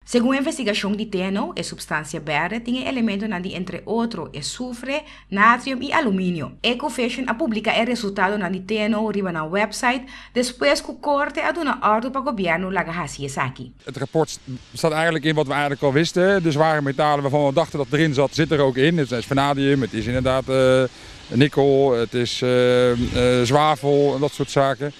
Segun e investigashon di TNO, e supstansia bèrdè tin e elementonan di entre otro e sufre, natrium i aluminio. Ecofission a publiká e resultadonan di TNO riba nan wèpsait despues ku korte a duna òrdu pa gobièrnu laga hasi esaki. Het rapport staat eigenlijk in wat we eigenlijk al wisten, de zware metalen waarvan we dachten dat het erin zat, zit er ook in. Het is vanadium, het is inderdaad nikkel, het is zwavel en dat soort zaken.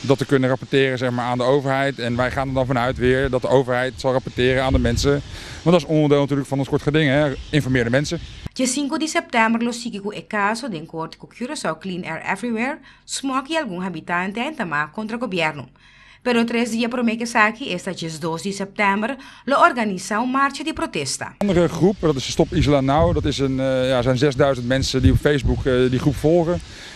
dat te kunnen rapporteren zeg maar aan de overheid en wij gaan er dan vanuit weer dat de overheid zal rapporteren aan de mensen want dat is onderdeel natuurlijk van ons kort geding hè, informeer de mensen. Dje sinku di sèptèmber lo sigui ku e kaso den kort ku Curaçao Clean Air Everywhere, Smok i algun habitante a intamá kontra gobièrnu. Pero tres dia promé ku esaki, esta dje dos di sèptèmber, lo organisá un marcha di protesta. Andere groep, dat is Stop Isla Now, dat is een, ja, zijn zesduizend mensen die op Facebook die groep volgen